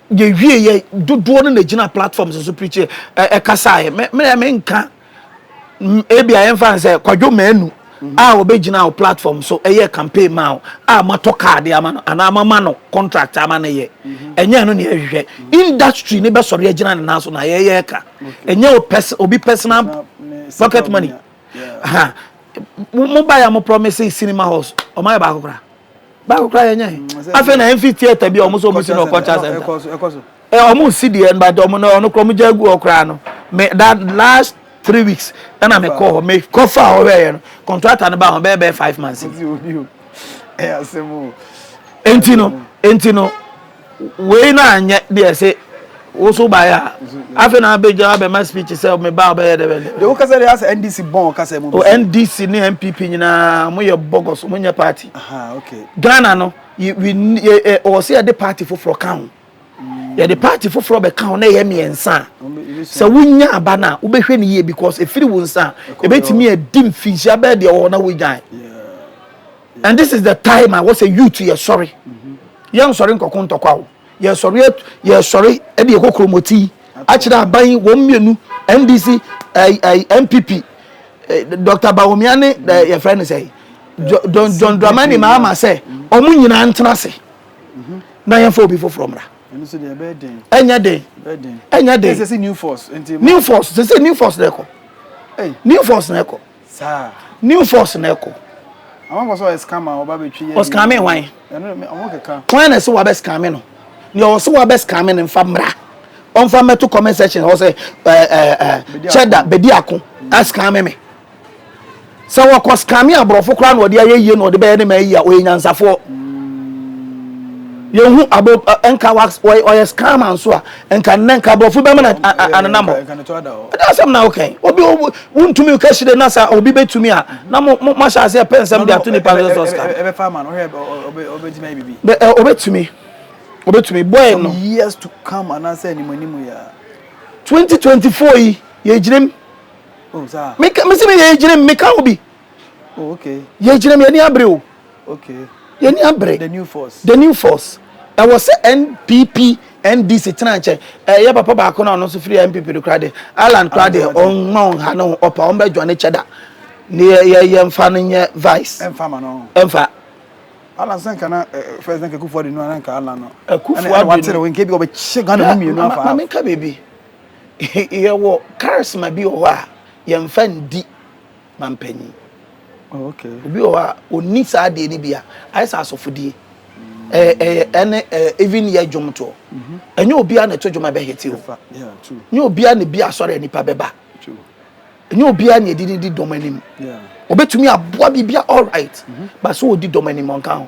yɛ wie yɛ dodoɔ no na gyina platforms so preachi ɛkasaeɛ me me me nka ebi a yɛmfa nsɛ kwadwo mmaanu a wɔbɛgyina wo platform so ɛyɛ campaign ma wo a matɔ kaade ama no anaa mama no contract ama no yɛ ɛnyɛ no ne ɛhwehwɛ industry ne bɛsɔre agyina ne nan so na yɛyɛ ka ɛnyɛ obi personal pocket money ha mo ba ya mo promise cinema halls ɔmayɛ baako koraa Baako koraa yɛnyɛ he. Afei na yɛmfi theatre bi a wɔn nso wɔn si no wɔ culture center. Ɛ wɔn si deɛ no but wɔn no wɔn koraa wɔn gya gu hɔ koraa no. Me that last three weeks ɛna me kɔ hɔ me kɔ fa hɔ hwɛ yɛ no contractor no ba hɔ bɛyɛ bɛyɛ five months. Enti no enti no. Wei na anyɛ deɛ se wo so baeɛ a afei na abɛgya abɛma speech sɛ me ba ɔbɛyɛ dɛ bɛ dɛ. Deɛ wo kasa deɛ asɛ NDC bɔn ɔkasa mu bi sɛ. NDC ne NPP nyinaa ɔmo yɛ bɔgɔs ɔmo nyɛ party. Ahaa okay. Ghana no yɛ we yɛ ɛ ɔwɔ sɛ yɛde party foforɔ ka ho. Yɛde party foforɔ bɛka ho na ɛyɛ mmiɛnsa a sɛ wo nya aba no a wo bɛhwɛ no yie because ɛfiri wo nsa a ɛbɛtumi adi mfinhyia bɛɛ deɛ ɔwɔ na wo gyae. And this is the time a wɔsɛ youth yɛ sɔre yɛn sɔre nkɔko ntɔkwa o yɛ sɔre yɛ sɔre ɛde yɛ kokoro mɔti akyerɛ aban wɔn mmienu ndc ɛɛ ɛɛ npp eh, dr bawumia ne ɛɛ eh, yɛfrɛ ne sɛ john john dramani mahama sɛ wɔn nyinaa ntena ase na yɛn fɔ obi foforɔ mmra ɛnyɛ den ɛnyɛ den new force sɛ sɛ new force na ɛkɔ new force na ɛkɔ. Saa. New force na ɛkɔ. Àwọn kɔ sɛ ɔyɛ scammer ɔba bɛ twi yɛ. Ɔscammer hwan? Ɛno mi ɔmo keka. Hwan na ɛsɛ wabɛ scammer no? Nea ɔsɛ wabɛ scammer no nfa mmra. Ɔnfa mmɛto comment section hɔ sɛ ɛɛ ɛɛ kyɛda bedi ako ascammer me. Sɛ wɔkɔ scammer aborɔfo koraa na ɔde ayɛ yie na ɔde bɛyɛ ne ma yie a ɔyɛ nyansafoɔ. Yɛn hu abo ɛnka wa ɔyɛ scammer nso a. Nka nnɛ nka aborɔfo bɛma no anenam hɔ. Ɛdɛ asɛm na woka yi. Obi wontumi woka hyire na sɛ obi bɛtumi a na mo mo ahyɛ aseɛ pɛ nsɛm de ato nipa no sɛ ɔsika. Ɛbɛfa ama no hwɛ obɛtumi ayɛ biribi. Obɛtumi obɛtumi boy no. Some years to come anaasɛ anim anim yɛ. 2024 yi yɛgyinam. Oh saa. Meka mesi me yɛgyinam meka wo bi. Oh okay. Yɛgyinam yɛni abere o. Yɛnni abere. The new force. The new force. Ɛwɔ sɛ NPP, NDC tena nkyɛn. Ɛyɛ papa baako na ɔno nso firi NPP do koraa de. Ireland koraa de, ɔmma ɔnha ne ho ɔpa, ɔmbɛ dwa ne kyɛ da. Ne yɛ yɛ yɛ mfa no nyɛ vice. Ɛmfa ma no. Ɛmfa. Alan sɛ nka na fɛs na kakufo adi no na nka Alan no. Akufo adi no. Ɛna watere wo nkebi ɔbɛkyɛ Ghana mu mmienu afa. Maame nka biribi. Yɛwɔ charisma bi wɔ hɔ a yɛmfa ndi. mampanyin. Oh, okay. Obi wɔ hɔ a ɔnni saa adeɛ no bi a ayɛ sɛ asɔfodie ɛne even yɛ dwom toɔ ɛnyɛ obiara na ɛto dwom a ɛbɛhete o nyɛ obiara na bi asɔre a nipa bɛba ɛnyɛ obiara na ɛdi ne di dɔm anim ɔbɛtumi aboa biribi a all right ba so ɔdi dɔm anim ɔnka ho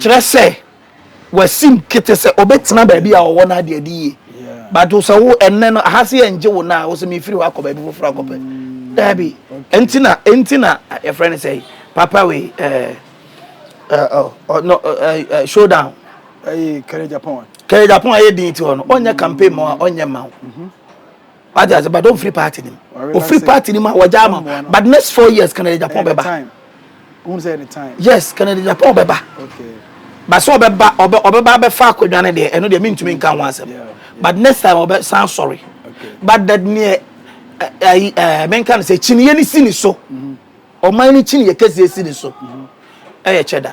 Kyerɛ sɛ, wasim kete sɛ ɔbɛtena baabi a ɔwɔ no ade adi yie. But wo sɛ wo ɛnnɛ no aha se ɛngye wo no a wo sɛ mefiri hɔ akɔ baabi foforɔ akɔpɛ. Daabi. Ɛnti na ɛnti na yɛfrɛ no sɛ papa wei ɛɛ ɛɛ showdown. Ɛyɛ kɛrɛ Japan. Kɛrɛ Japan ayɛ din ti hɔ no ɔnyɛ campaign ma ɔnyɛ ma wo. Wate ase but ɔmfiri party no mu ɔfiri party no mu a wɔgya ama but next four years Kennedy Agyapong bɛba yes Kennedy Agyapong bɛba but sɛ ɔbɛba ɔbɛba abɛfa akonnwa no deɛ ɛno deɛ mentumi nka ho asɛm but next time ɔbɛsan sɔre but that neɛ ɛyi ɛɛ menka no sɛ kyiniiɛ no si ne so ɔman no kyiniiɛ kɛseɛ si ne so ɛyɛ kyɛ da.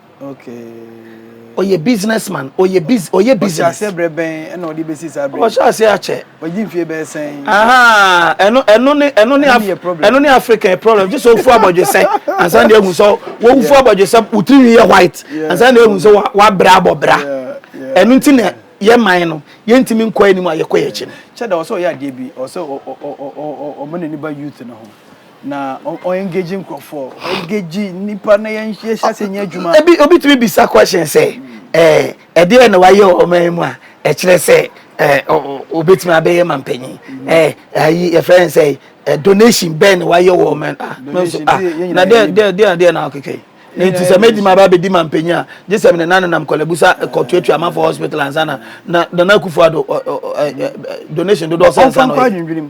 ɔyɛ business man ɔyɛ biz ɔyɛ business. ɔhyɛ aseɛ brɛ bɛn ɛna ɔde bɛsi saa brɛ. ɔhyɛ aseɛ akyɛ. ɔgye mfie bɛyɛ sɛn. ɛno ɛno ne ɛno ne ɛno ne african problem gye sɛ ofu abɔdwesɛ ansa na ehu sɛ wofu abɔdwesɛ wotiri nwi yɛ white ansa na ehu sɛ wabra abɔbra ɛno nti na yɛ man no yɛntumi nkɔ anim a yɛkɔ yɛ akyi no. kyɛ da ɔsɛ ɔyɛ adeɛ bi ɔsɛ ɔmo n'ani ba youth no ho. Na ɔ ɔ engage nkurɔfoɔ, ɔ engage nnipa na yɛn yɛn hyɛ ase nyɛ adwuma. Ebi obi tumi bisa question sɛ ɛɛ ɛdeɛn na wayɛ wɔ ɔman yi mu a ɛkyerɛ sɛ ɛɛ ɔ ɔ obetumi abɛyɛ mampanyin ɛɛ ayi yɛfrɛ no sɛ ɛɛ donation bɛn na wayɛ wɔ ɔman a me nso a na deɛ deɛ deɛ deɛ na akeka yi. Ne nti sɛ mɛdi ma ba bɛdi mampanyin a gye sɛ mene nane nam kɔlɛbusa kɔtuatua amanfoɔ hospital ansa na na nana akufo ado donation dodoɔ sɛ nsa na ɔyɛ.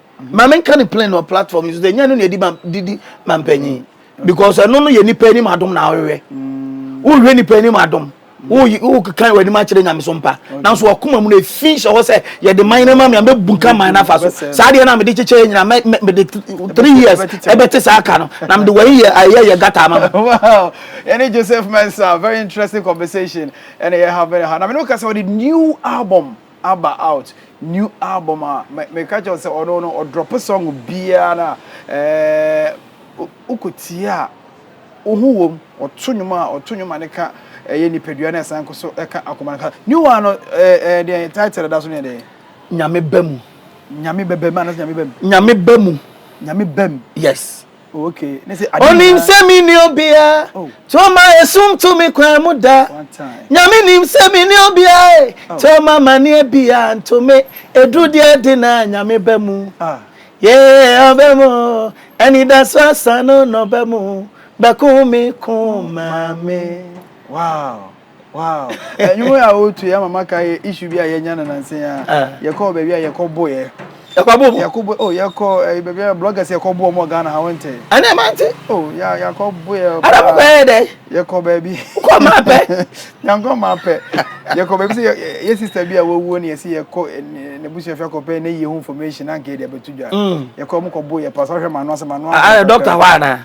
ma me nka ne plain wɔ platform yi so sɛ nyɛ no na ɛdi ma didi ma mpanyin because ɛno no yɛ nipa anim adom na awewɛ mm. wohwɛ nipa anim adom wokekan w'anim akyerɛ nyame so mpa nanso wakoma mu no ɛfi hyɛ hɔ sɛ yɛde man no ma me a mɛbu nka man no afa so saa deɛ no a mede kyekyɛɛ nyina mede three years ɛbɛte saa ka no na mede wai yɛ ayɛ yɛ gata ama no ɛne joseph mensa very interesting conversation ɛne yɛ ha bɛne ha na mene woka sɛ wɔde new album aba out new album a me ka kyɛw sɛ ɔno no ɔdrop song biara no a ɛɛ wokɔ tie a wo ho wom ɔto nnwom a ɔto nnwom a ne ka ɛyɛ nipadua na ɛsan kɔ so ɛka akoma no ka new one no ɛɛ deɛ title da so ne ɛdɛ nyame ba mu nyame bɛbɛ mu anasɛ nyame ba mu nyame ba mu nyame ba mu yes Onim sɛ menni obia Toma ɛsum to me kwan mu da Nyame nim sɛ menni obia Toma maneɛ bia nto me Ɛduru deɛ de na Nyame ba mu Yeah ɔbɛ mu Anidaso asa no na ɔbɛ mu Bɛko me ko ma me Wow Wow! Ɛnwom a wotu yɛ ama maka yɛ issue bi a yɛnya no nansa yi ara. Ah. Yɛkɔɔ baabi a yɛkɔ boeɛ. Yɛkɔ abo mu. Yɛkɔ bo oh yɛkɔ eh, baabi a bloggers yɛkɔ boɔ mu wɔ Ghana ha wonte. Ɛnna ɛma nti. Oh yɛ yɛkɔ boeɛ paa. Ɛnna mokɔ yɛ dɛ. Yɛkɔ baabi. Kɔ maa pɛ. Yankɔ maa pɛ. Yɛkɔ baabi sɛ yɛ sister bi a wawuo ne yɛsi yɛkɔ n'abusua fi akɔpɛ ne yie ho information anka yɛde abɛto dwa. Yɛkɔ ɔmo kɔ boeɛ paa sɛ ɔhwɛ m'ano ase m'ano. Ah doctor hɔ anaa.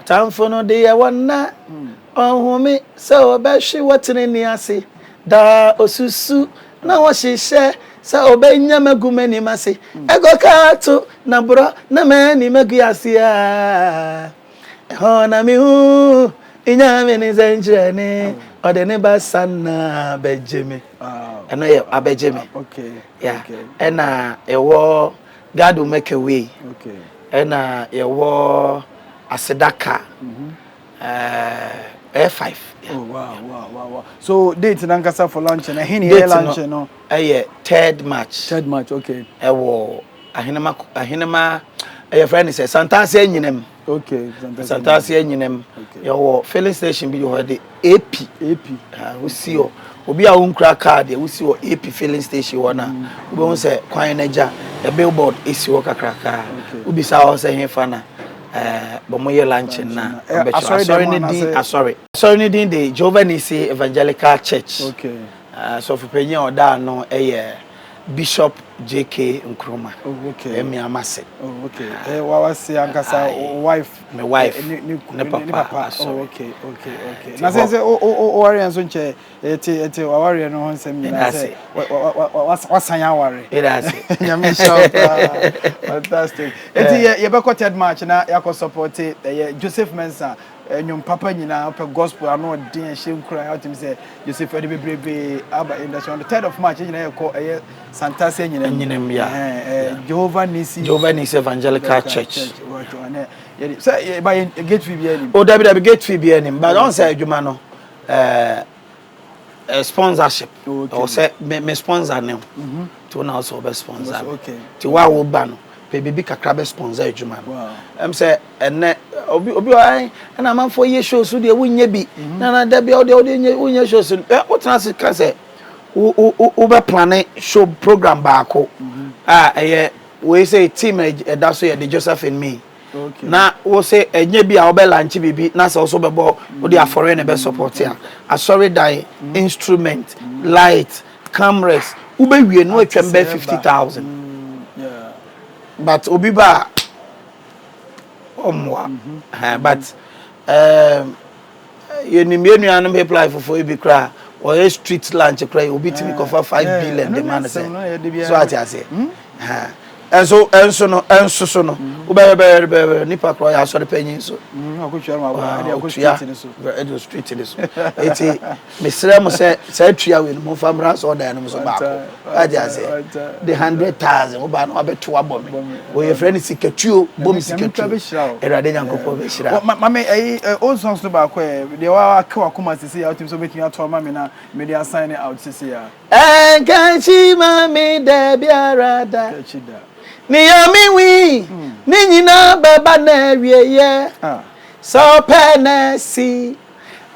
Ɔtamfo no de yɛ wɔn nã, ɔhome sɛ ɔbɛhwe wɔ trenee ase. Daa osusu na ɔhyehyɛ sɛ ɔbɛnya magu m'anim ase. Ɛgɔ kaa to na borɔ na m'ani magu ase a, ɛhɔ na mehuu Nyame ne sɛnkyerɛnne, ɔde ne basa nã bɛgye me. Ɛno yɛ abɛgye me. Yeah. Ɛna ɛwɔ Gado Mecca wei ɛna yɛwɔ aseda ka ɛɛ five. Oh wow wow wow wow. So date nankasa for lunch na ɛhe na yɛ lunch no? Ɛyɛ third march. Third march okay. Ɛwɔ ahenema ahenema ɛyɛ fɛn ne sɛ Santase anyinam. Okay, Asantase anyinam. Okay. Yɛwɔ filling station bi wɔ de AP. AP. Ha wosi hɔ. Obi a wonkura car deɛ wosi hɔ AP filling station hɔ na mm. wobɛhu sɛ kwan no agya the billboard esi hɔ kakraka. Wobisa hɔ sɛ hefa na eh, bɔn yɛ lunch na eh, ɔbɛkyerɛ asɔre ne din asɔre. Asɔre ne din de Jehovah Nisi Evangelical Church. Okay. Asɔfopanyin ah, a ɔda ano yɛ. Bishop JK Nkrumah. Oh okay. Ɛyɛ me ama se. Oh okay. Ɛyɛ eh, wawa se ankasa o wife. Me wife. Ne ne ne papa. Ne papa. Oh okay okay okay. Na se se o o o wari nso nkyɛ ɛte eh, ɛte eh, wawari ɛno ho nsɛm nyinaa sɛ wasan awari. Ɛda ase. Nyame nhyɛ wo paa. Fantastic. Eti yɛ yɛbɛkɔ third match na yɛakɔ support ɛyɛ Joseph Mensah Ɛnwom papa nyinaa pɛ gospel ano ɔden ɛhyɛ nkuran ɔtumi sɛ Joseph ɛde bebrebe aba in the so on the third of March ɛnyina yɛ kɔ ɛyɛ Santase ɛnyina mu ɛnyina mu ya Jehovah Nisi Jehovah Nisi Evangelical Church sɛ ɛba yɛ gate fee bi ɛnim o dabi dabi gate fee bi ɛnim but ɔn sɛ adwuma no ɛɛ eh, sponsorship ɛwɔ sɛ me me sponsor ne ho mhm. nti wo na wo sɛ wobɛ sponsor me nti wo a woba no pɛ biribi kakra bɛ sponsor adwuma no ɛm sɛ ɛnɛ obi obi ɔɛ ɛna amanfoɔ yɛ show so deɛ wonyɛ bi mhm. na na da bia wodeɛ wode wonyɛ show so ɛ wotena ase ka sɛ wobɛ plane show program baako mhm. a ɛyɛ wei sɛ team ɛda so yɛ de Josephine May na wo sɛ ɛnyɛ bi a wobɛ lankye biribi na sɛ wo so bɛbɔ wode afɔreɛ na ɛbɛ support a asɔredan instrument light cameras wobɛwie no atwam bɛ 50000 but obi ba a ɔmmoa but um, Yɛnim yɛn nuanom Hippliffoɔ yi bi koraa a, wɔyɛ street lunch koraa yi, obi tumi kɔfa five billion de ma no sɛ, so ate aseɛ? Ɛnso, ɛnso no, ɛnso so no, wobɛhwɛ bɛhwɛ bɛhwɛ nipa koraa ɔyɛ asɔre panyin so, ɔtua ɛde wɔ street no so, eti. Mesrɛ mo sɛ saa tua wei no momfa mmra asɔɔdan no mu so baako wagye aseɛ de hundred thousand wo baa no wabɛto abɔ me wɔ yɛfrɛ no sikatuo bɔ me sikatuo awurade nyankopɔn bɛhyira wo. Ma me ɛyi old songs no baako ɛ deɛ wake wakoma sisi a wotumi sɛ wobɛtumi ato ama me na mede asign out sisi a. Ɛnkakyi ma me da biara da. Kakyi da. Nea me wi ne nyinaa bɛba n'awieɛ sɛ ɔpɛ na si.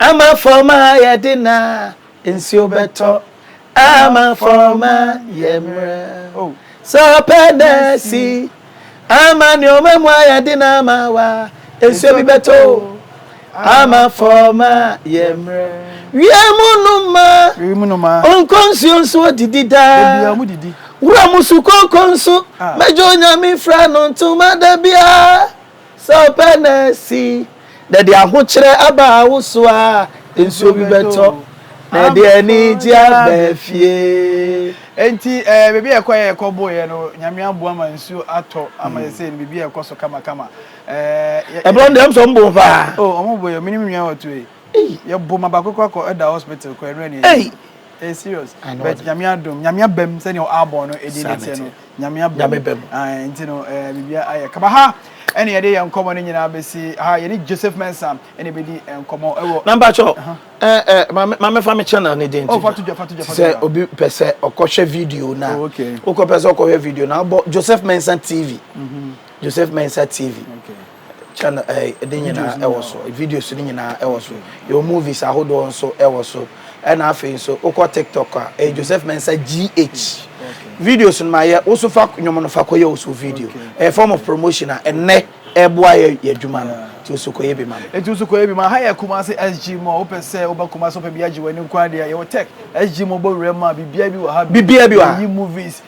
Ama fam ayɛ den na nsuo bɛtɔ. Ama fam ayɛ mmerɛ sɛ ɔpɛ na asi. Ama nneɛma mu ayɛ den na ama wa nsuo bi bɛtɔ o. Ama fam ayɛ mmerɛ. Wiem nnomaa nkɔ nsuo nso wɔdidi daa. Wuram sukooko nso mɛgye Onyame mfira no ntoma da biara. Sɛ ɔpɛ na asi, na ɛde ahokyerɛ aba wo so a, nsuo bi bɛtɔ, na ɛde anigyeɛ aba fie. Enti eh, baabi a yɛkɔeɛ a yɛkɔboeɛ no, Nyame aboa ma nsuo atɔ ama yɛn sei no, biribi a ɛkɔ so kamakama. Eh, yɛ. Ɛberɛ no deɛ, ɛm sɛ wɔboo wo paa. Oh, wɔn boo yɛn, me ne me nua ɔtoo yi. Ei. Yɛboo ma baako koraa kɔ ɛda hospital kɔ, ɛno ɛne Ei. anim. Ɛyɛ serious, Anaa but ɔde. Nyame adom, Nyame abam sɛdeɛ ɔabɔ no ɛdin no teɛ no. Sanity. nyame abɔ nyame bɛ mu ah, nti no eh, biribia ayɛ kama ha ɛne yɛde yɛ nkɔmmɔ no nyinaa bɛsi ha yɛne joseph mensa ɛne bɛdi nkɔmmɔ ɛwɔ na mpakyɛ eh, eh, mamefa me channel ne din oh, sɛ obi pɛ sɛ ɔkɔhwɛ video na oh, okay. wokɔpɛ sɛ ɔkɔhwɛ video na wobɔ joseph mensa tv mm -hmm. joseph mensa tv okay. Channel ɛɛ ne nyinaa ɛwɔ so videos ne nyinaa ɛwɔ so yɛwɔ movies ahodoɔ nso ɛwɔ so ɛna afei nso wokɔ tiktok a ɛyɛ Joseph Mensah GH videos no ma yɛ woso fa nnwom no fa kɔyɛ woso video ɛyɛ form of promotion a ɛnɛ ɛboa yɛ yɛ adwuma no nti woso kɔyɛ bi ma no. Nti woso kɔyɛ bi ma ha yɛ Kumasi SG Mall wopɛ sɛ woba Kumasi wopɛ bi agye w'ani nko ara deɛ yɛwɔ tech SG Mall bɔ wuram a biribiara bi wɔ ha bi biribiara bi wɔ ha yɛyi movies.